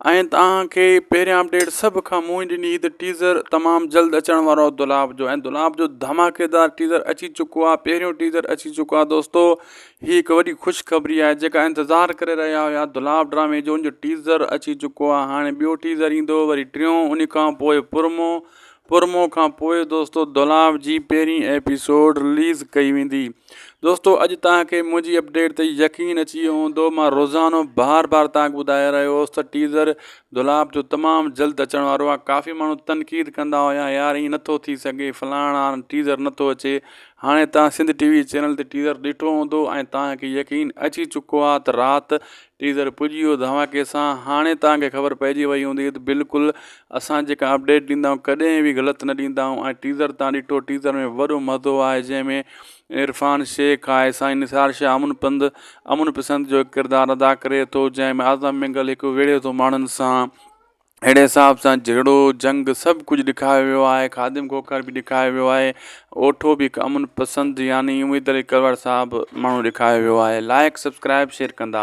آئين تاهان کي پهريان اپڊيٽ سڀ کان منهن ڏني عيد ٽيزر تمام جلد اچڻ وارو آهي دولاب جو ۽ دولاب جو ڌماڪيدار ٽيزر اچي چڪو آهي پهريون ٽيزر اچي چڪو آهي دوستو هي هڪ وڏي خوشخبري آهي جيڪا انتظار ڪري رهيا هيا دولاب ڊرامي جو ان جو ٽيزر اچي چڪو آهي هاڻي ٻيو ٽيزر ايندو وري ٽيون ان کان پوء پرمو پرومو کان پوء دوستو دولاب جي پهرين ايپيسوڊ رليز ڪئي ويندي دوستو اڄ تان کي منهنجي اپڊيٽ تي يقين اچي ويو هوندو مان روزانو بار بار تان ٻڌائي رهيو هوس ته ٽيزر دولاب جو تمام جلد اچڻ وارو آهي ڪافي ماڻهو تنقيد ڪندا هيا يار ائين نٿو ٿي سگهي فلاڻ آن ٽيزر نٿو اچي هاڻي تان سنڌ ٽي وي چينل تي ٽيزر ڏٺو هوندو ۽ تان کي يقين اچي چڪو آهي ته رات ٽيزر پڄي ويو ڌماڪي سان هاڻي تان کي خبر پئجي وئي هوندي ته بلڪل اسان جيڪا اپڊيٽ ڏيندا آهيون ڪڏهن به غلط نه ڏيندا آهيون ۽ ٽيزر تان ڏٺو ٽيزر ۾ وڏو مزو آهي جنهن ۾ عرفان شيخ آهي سائين نثار شاهه امن پنڌ امن پسند جو ڪردار ادا ڪري ٿو جنهن ۾ اعظم مينگل هڪ ويڙهي ٿو ماڻهن سان اهڙي حساب سان جهيڙو جنگ سڀ ڪجهه ڏيکاريو ويو آهي خادم کوکر به ڏيکاريو ويو آهي اوٺو به هڪ امن پسند يعني اميد علي ڪروڙ صاحب ماڻهو ڏيکاريو ويو آهي لائق سبسڪرائب شيئر ڪندا